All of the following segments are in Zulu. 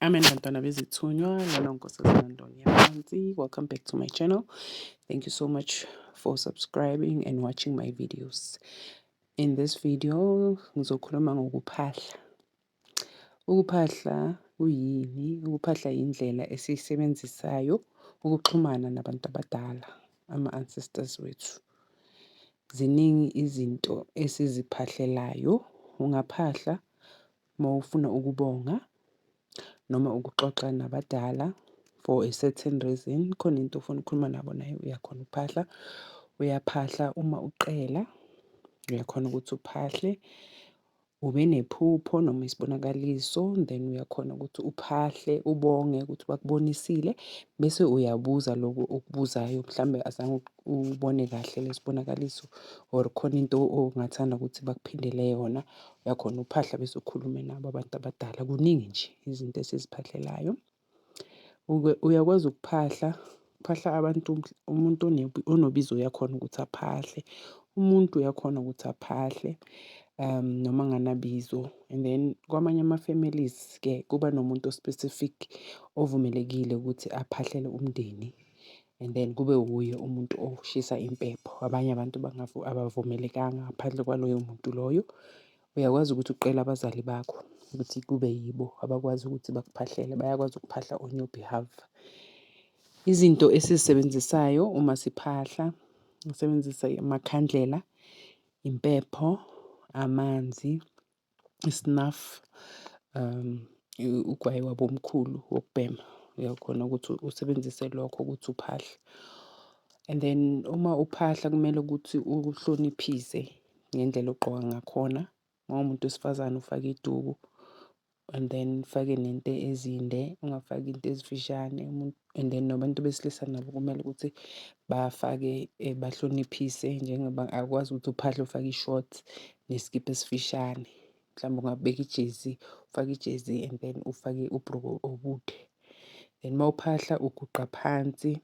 Amen bantwana bezithunywa lona unkosazana Ndoni yaphansi welcome back to my channel thank you so much for subscribing and watching my videos in this video ngizokhuluma ngokuphahla Ukuphahla kuyini? Ukuphahla yindlela esiyisebenzisayo ukuxhumana nabantu abadala, ama-ancestors wethu. Ziningi izinto esiziphahlelayo, ungaphahla uma ufuna ukubonga noma ukuxoxa nabadala for a certain reason, khona into ofuna ukukhuluma nabo nayo uyakhona ukuphahla. Uyaphahla uma ucela, uyakhona ukuthi uphahle. Ube nephupho noma isibonakaliso then uyakhona ukuthi uphahle ubonge ukuthi bakubonisile bese uyabuza lokho okubuzayo mhlawumbe azange ubone kahle lesibonakaliso or khona into ongathanda ukuthi bakuphindele yona uyakhona uphahla bese ukhulume nabo abantu abadala kuningi nje izinto esiziphahlelayo. Uyakwazi ukuphahla, kuphahla abantu umuntu onobizo uyakhona ukuthi aphahle, umuntu uyakhona ukuthi aphahle noma anganabizo. And then kwamanye ama-families-ke kuba nomuntu o-specific ovumelekile ukuthi aphahlele umndeni and then kube wuye umuntu oshisa impepho. Abanye abantu abavumelekanga ngaphandle kwaloyo muntu loyo. Uyakwazi ukuthi uqele abazali bakho ukuthi kube yibo abakwazi ukuthi bakuphahlele, bayakwazi ukuphahla on your behalf. Izinto esizisebenzisayo uma siphahla, ngisebenzisa amakhandlela, impepho, amanzi, isnafu, ugwayi wabomkhulu wokubhema. Uyakhona ukuthi usebenzise lokho ukuthi uphahle. And then uma uphahla kumele ukuthi uhloniphise. ngendlela ogqoka ngakhona. Uma uwumuntu wesifazane ufake iduku and then ufake nento ezinde ungafaki into ezifishane. And then nabantu besilisa nabo kumele ukuthi bafake bahloniphise njengoba akukwazi ukuthi uphahle ufake i-short nesikibha esifishane. Mhlawumbe ungabeka ijezi ufake ijezi and then ufake ubhruku obude. Then uma uphahla uguqa phansi.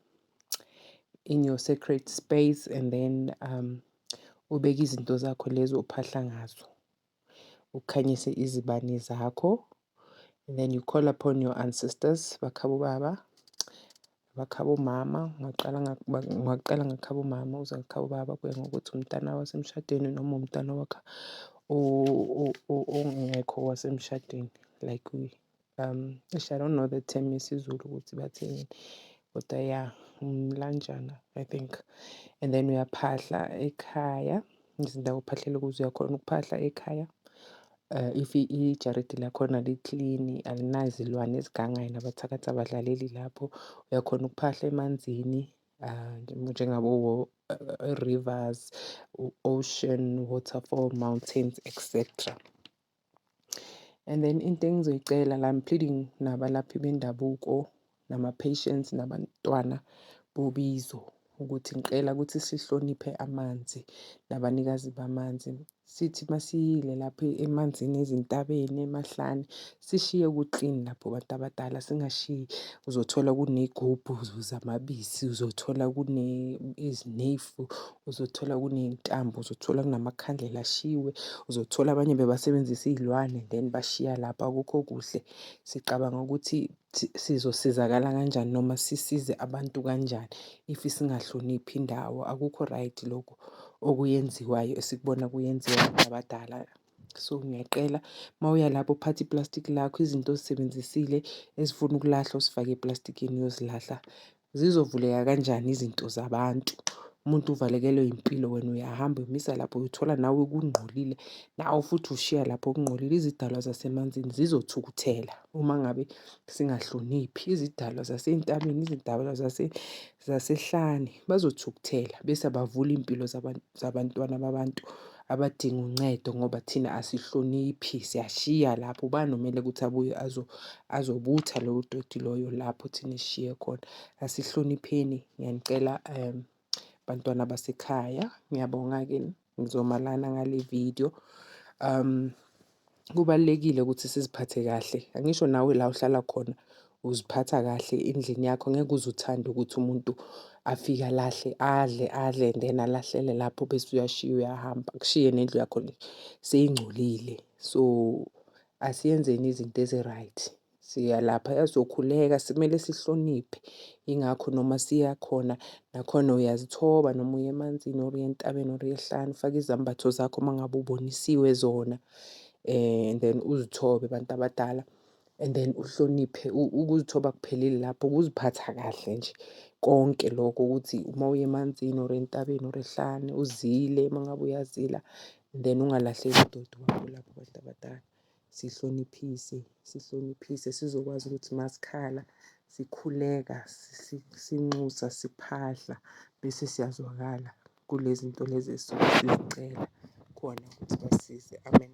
in your secret space and then um ubeke izinto zakho lezi ophahla ngazo, ukhanyise izibani zakho and then you call upon your ancestors bakhabo baba, bakhabo mama, ungaqala ungaqala ngakhabo mama uze ngakhabo baba kuya ngokuthi umntana wasemshadweni noma umntana wakho ongekho wasemshadweni like . um eish I don't know the term yesiZulu ukuthi bathini kodwa ya umlanjana I think and then uyaphahla ekhaya izindawo ophahlela kuzo uyakhona ukuphahla ekhaya uh, if ijaridi lakhona liklini alinazilwane ezigangayo nabathakathi abadlaleli lapho uyakhona ukuphahla emanzini uh, njengabo uh, rivers ocean waterfall mountains etc And then into engizoyicela la I'm pleading nabalaphi bendabuko nama-patients nabantwana bobizo ukuthi ngicela ukuthi sihloniphe amanzi nabanikazi bamanzi. Sithi masiyile lapho emanzini ezintabeni emahlane sishiye ku-clean lapho bantu abadala singashiyi uzothola kuney'gubhu zamabisi, uzothola kune . ugesi, uzothola kuney'ntambo, uzothola kunamakhandlela ashiwe, uzothola abanye bebasebenzisa iy'lwane then bashiya lapho akukho kuhle. Sicabanga ukuthi sizosizakala kanjani noma sisize abantu kanjani if singahloniphi indawo. Akukho right lokho okuyenziwayo esikubona kuyenziwa abantu abadala. So ngiyacela mawuya lapho uphathe ipulasitiki lakho, izinto ozisebenzisile ezifuna ukulahlwa uzifake epulasitikini uyozilahla. Zizovuleka kanjani izinto zabantu umuntu uvalekelwe impilo wena uyahamba uyomisa lapho uyothola nawe kungcolile nawe futhi ushiya lapho kungcolile. Izidalwa zasemanzini zizothukuthela uma ngabe singahloniphi izidalwa zasentabeni izidalwa zasehlane bazothukuthela bese bavula iy'mpilo zabantwana babantu. abadinga uncedo ngoba thina asihloniphi siyashiya lapho ubani omele ukuthi abuye azobutha lowo doti loyo lapho thina esishiye khona. Asihlonipheni ngiyanicela bantwana basekhaya ngiyabonga-ke ngizoma lana ngale vidiyo . kubalulekile ukuthi siziphathe kahle angisho nawe la uhlala khona uziphatha kahle endlini yakho ngeke uze uthande ukuthi umuntu afike alahle adle adle and then alahlele lapho bese uyashiya uyahamba kushiye nendlu yakho seyingcolile so asiyenzeni izinto ezi-right. Siya lapha yazokhuleka simele sihloniphe yingakho noma siya khona nakhona uyazithoba noma uye emanzini or uye entabeni or uyehlane ufake izambatho zakho uma ngabe ubonisiwe zona um and then uzithobe abantu abadala and then uhloniphe ukuzithoba kuphelile lapho ukuziphatha kahle nje konke lokho ukuthi uma uye emanzini or entabeni or ehlane uzile uma ngabe uyazila then ungalahleki udoti wakho lapho abantu abadala. sihloniphise sihloniphise sizokwazi ukuthi masikhala sikhuleka sinxusa siphahla bese siyazwakala kulezi nto lezi esuke sizicela khona ukuthi basize amen